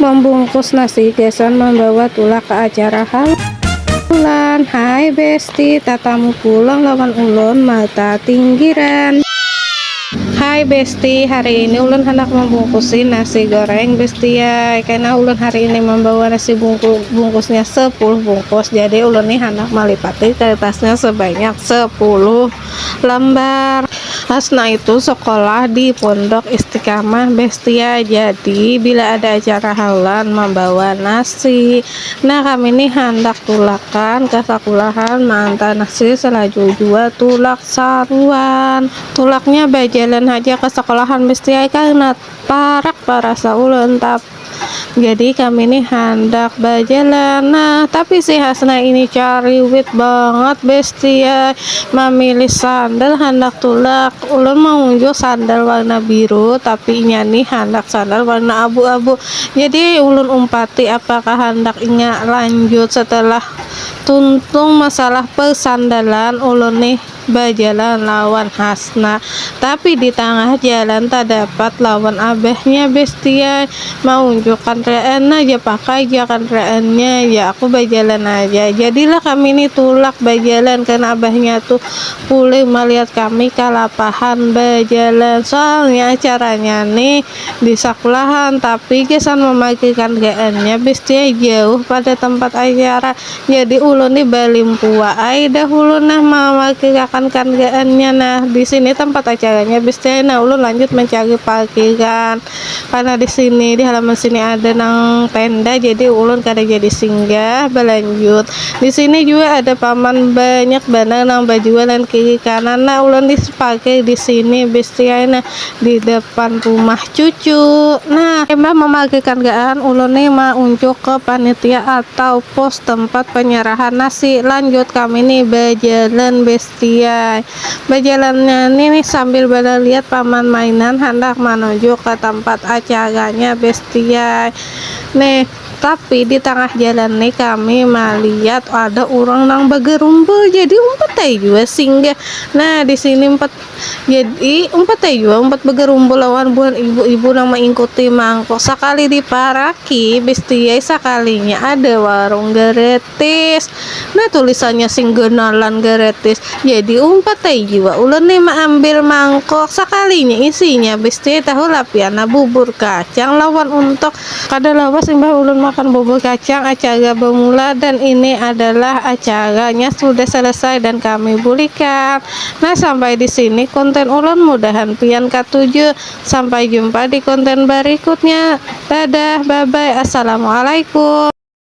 Membungkus nasi gasan membawa tulak ke acara halan Hai besti, tatamu pulang lawan ulun mata tinggiran. Hai besti, hari ini ulun handak membungkusi nasi goreng besti ai, kena ulun hari ini membawa nasi bungkusnya sepuluh bungkus, jadi ulun ni handak malipati kertasnya sebanyak sepuluh. lambar. Hasna itu sekolah di Pondok Istiqamah Bestia jadi bila ada acara haulan mambawa nasi nah kami ni handak tulakan ka sakulahan maantar nasi salaju jua tulak saruan tulaknya bajalan haja ka sekolahan Bestia karna parak barasa ulun tapi Jadi kami nih handak bajalan Nah tapi si Hasna ini cariwit banget bestie ya. Mamilih sandal handak tulak Ulun maunjuk sandal warna biru tapi inya nih handak sandal warna abu-abu Jadi ulun umpati apakah handak inya lanjut setelah tuntung masalah persandalan Ulun nih bajalan lawan Hasna. Tapi di tangah jalan tadapat lawan abahnya Bestia maunjuk kandaraan aja pakai ja kandaraannya ya aku bajalan aja. Jadilah kami ni tulak bajalan karna abahnya tu pulih malihat kami kalapahan bajalan. Soalnya acaranya ni di sakulahan tapi gasan mamakai kandaraannya Bestia jauh pada tempat acara. Jadi ulun ni balimpua ai dahulu nah mawakilkan karjaannya nah di sini tempat acaranya habis teh nah ulun lanjut mencari parkiran karena di sini di halaman sini ada nang tenda jadi ulun kada jadi singgah balanjut di sini jua ada paman banyak banar nang bajualan kiri kanan nah ulun di parkir di sini habis teh ai nah di depan rumah cucu nah imbah memagihkan gaan ulun ni ma unjuk ke panitia atau pos tempat penyerahan nasi lanjut kami ni bejalan bestiai bejalannya ni nih sambil beleliat paman mainan handak manuju ke tempat acaranya bestiai nih tapi di tangah jalan ni kami maliat ada urang nang begerumbul jadi umpat ai jua singgah nah disini umpat. Jadi, umpat ai jua umpat bagarumbul lawan buhan ibu-ibu nang maingkuti mangkuk. Sakali diparaki, bestiai sakalinya ada warung gratis. Nah, tulisannya sing ganalan gratis. Jadi, umpat ai jua ulun nih maambil mangkuk. Sakalinya isinya bestiai tahu lapian. Nah, bubur kacang lawan untok. Kada lawas imbah ulun makan bubur kacang, acara bamula dan ini adalah acaranya sudah selesai dan kami bulikan. Nah sampai di sini konten ulun mudahan pian katuju sampai jumpa di konten barikutnya dadah bye bye assalamualaikum.